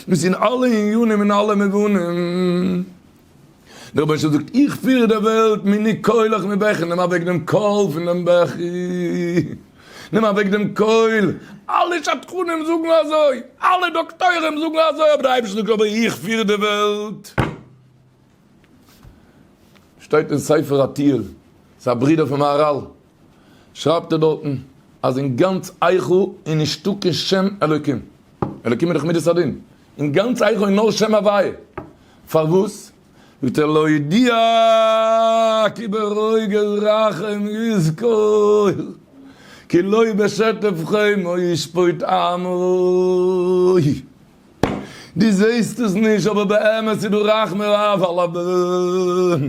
מ'איז אין אלע עניינים און אלע מובנים. דער רבונו של עולם זאגט, איך פיר די וועלט, מיני קולך מבכי, נעם אוועק דעם קול פון דעם בכי, נעם אוועק דעם קול, אלע שדכנים זאגן אזוי, אלע דאקטוירים זאגן אזוי, אבער דער אייבערשטער זאגט, אבער איך פיר די וועלט. שטייט אין ספר התהיל, ס'איז א ברודער פון מהרל. שרייבט ער דארטן אז אין גאנץ איכה אין נישטא קיין שם אלוקים, אלוקים איז דאך מידת הדין, אין גאנץ איכה אין נאר שם הוויה, פארוואס זאגט ער להודיע כי ברוגז רחם יזכור, כי לא בשטף חמו ישפוט עמו, דו זעסט עס נישט אבער באמת איז דא רחמי אב על א בן.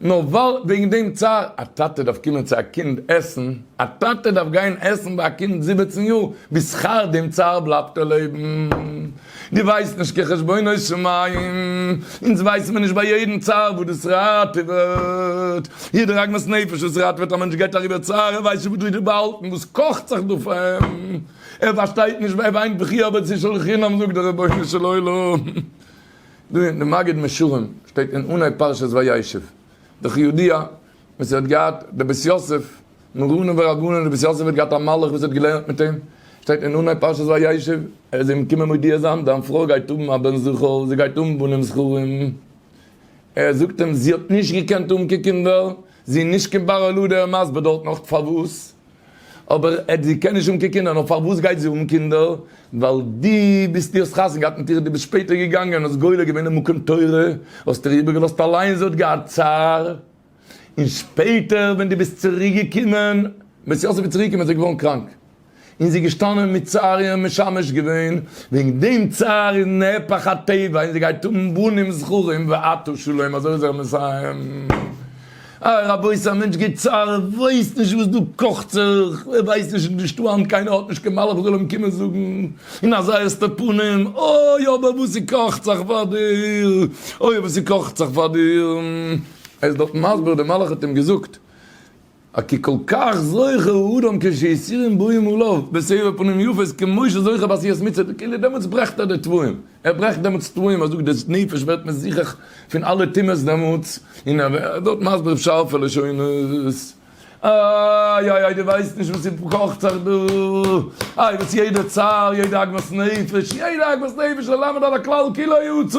נאר ווייל וועגן דעם צער, א טאטע דארף קומען צו א קינד עסן, א טאטע דארף גיין עסן ביי א קינד זיבעצן יאר, בשכר דעם צער בלייבט ער לעבן. דו ווייסט נישט כחשבונות שמים, אונז ווייסן מיר נישט ביי יעדן צער וואס דאס ראטעוועט. יעדער עגמת נפש וואס ראטעוועט א מענטש גייט אריבער צער, ער ווייסט נישט וואס דאס איז באהאלטן, וואס קאכט זיך דא פאר אים, ער פארשטייט נישט, ער וויינט בכי אבד ס'איז שלא לחינם זאגט דער רבונו של עולם. דא אין די מגיד משרים שטייט אין אנהייב פרשת וישב די חיודיע וואס ער האט געהאט די בית יוסף מרנן ורבנן די בית יוסף האט געהאט א מלאך וואס האט געלערנט מיט אים שטייט אין אנהייב פרשת וישב ער איז אים געקומען מודיע זיין דיין פרוי גייט האבן א בן זכר זי גייט האבן בנים זכרים ער זאגט אים זי האט נישט געקענט האבן קיין קינדער זי איז נישט קיין בר ילוד ער איז מסביר דארט נאך פארוואס אבער ער זי קען נישט האבן קיין קינדער, נאר פארוואס גייט זי האבן קינדער? ווייל דו ביסט דו האסט חתונה געהאט מיט איר, דו ביסט שפעטער געגאנגען האסט גולה געווען אין מקום תורה, האסט איר איבערגעלאזט אליין זי האט געהאט צער, און שפעטער ווען דו ביסט צוריק געקומען, בעת יוסף איז צוריק געקומען איז ער געווארן קראנק, און זי איז געשטאנען מיט צער און משמש געווען, וועגן דעם צער איז נהפך הטבע און זי גייט האבן בנים זכרים ואתו שלום, אזוי איז ער מסיים. אה רבותי א מענטש געבט צער ער ווייסט נישט וואס דא קאכט זיך ער ווייסט נישט איז נישטא היינט קיינער האט נישט קיין מלאך וואס זאל אים קומען זאגן אין א זייער סטע פנים אוי אבער וואס ס'קאכט זיך פאר דיר אוי וואס ס'קאכט זיך פאר דיר ער איז דארט מסביר די מלאך האט אים געזאגט א כי כל כך זוכה הוא אדם כשהסיר אין בוים עליו בסבר פנים יפות כמשה זוכה בעשיית מצוה כאילו דעמאלטס ברעכט ער די תוואים. ער ברעכט דעמאלטס תוואים אז דאס דאס נפש ווערט מזוכך פון אלע טומאות דעמאלטס, און ער ווערט מסביר אויף שארפע לשונות, איי איי איי דו ווייסט נישט וואס ס'קאכט זיך דא, איי וואס יעדע צער, יעדע עגמת נפש, יעדע עגמת נפש ללמד על הכלל כי לא יצא.